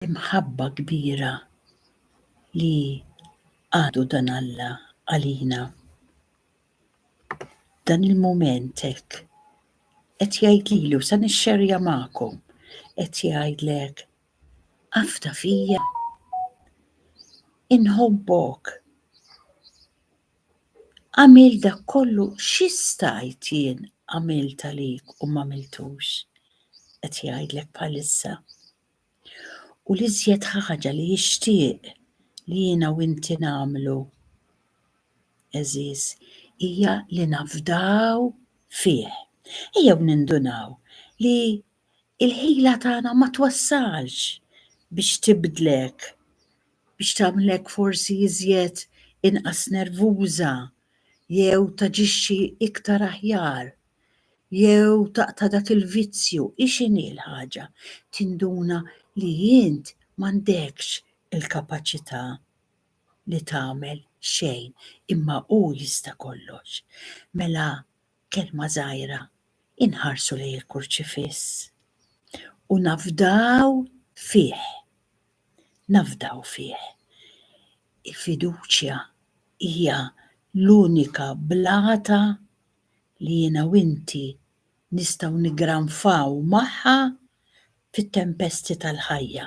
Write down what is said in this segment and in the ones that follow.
l-imħabba kbira li għadu dan Alla għalina. Dan il-mument hekk qed jgħid lilu sa nixxerja magħkom qed jgħidlek afda fija inħobbok għamil dak kollu xistajt jien għamil talik u ma miltux. Qed jgħidlek bħalissa. U l-iżjed ħaġa li jixtieq li jiena u inti nagħmlu, eżiż, hija li nafdaw fih. Ejjew nindunaw li il-ħila tagħna ma twassalx biex tibdlek, biex tagħmlek forsi iżjed inqas nervuża jew taġixxi iktar aħjar. jew taqta' dak il-vizzju, hi x'inhi l-ħaġa? Tinduna li int m'għandekx il-kapaċità li tagħmel xejn, imma hu jista' kollox. Mela kelma żgħira, inħarsu lejn il-Kurċifiss u nafdaw fih. Nafdaw fih. Il-fiduċja hija l-unika blata li jiena u inti nistgħu niggranfaw magħha fit-tempesti tal-ħajja.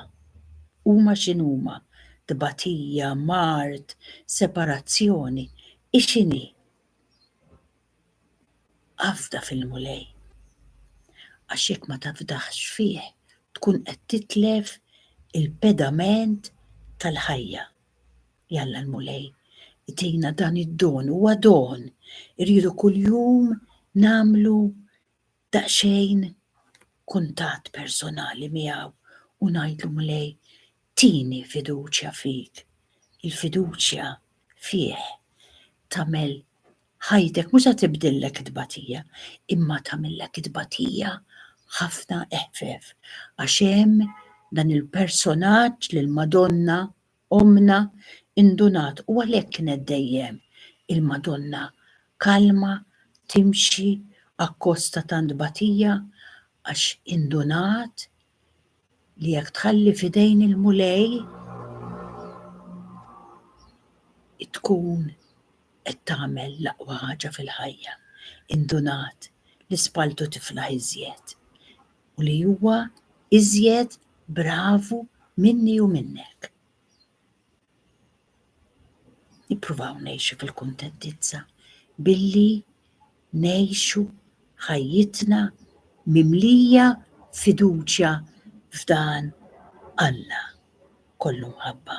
Huma x'inhuma, tbatija, mard, separazzjoni, hi x'inhi. Afda fil-Mulej. Għax jekk ma tafdax fih tkun qed titlef il-pedament tal-ħajja. Jalla l-Mulej itina dan id-don, huwa don. Irridu kuljum namlu daqsxejn kuntat personali miegħu u ngħidlu Mulej tini fiduċja fik. Il-fiduċja fih tagħmel ħajtek mhux se tibdillek it-tbatija, imma tagħmillek it-tbatija ħafna eħfef għax hemm dan il-personaġġ lill-Madonna Ommna indunat u għalhekk kienet dejjem il-Madonna kalma timxi akkost ta' tant tbatija għax indunat li jekk tħalli f'idejn il-Mulej tkun qed tagħmel l-aqwa ħaġa fil-ħajja. Indunat li spalltu tiflaħ iżjed. u li huwa iżjed bravu minni u minnek. Nippruvaw ngħixu fil-kuntentizza billi ngħixu ħajjitna mimlija fiduċja f'dan Alla kollu mħabba.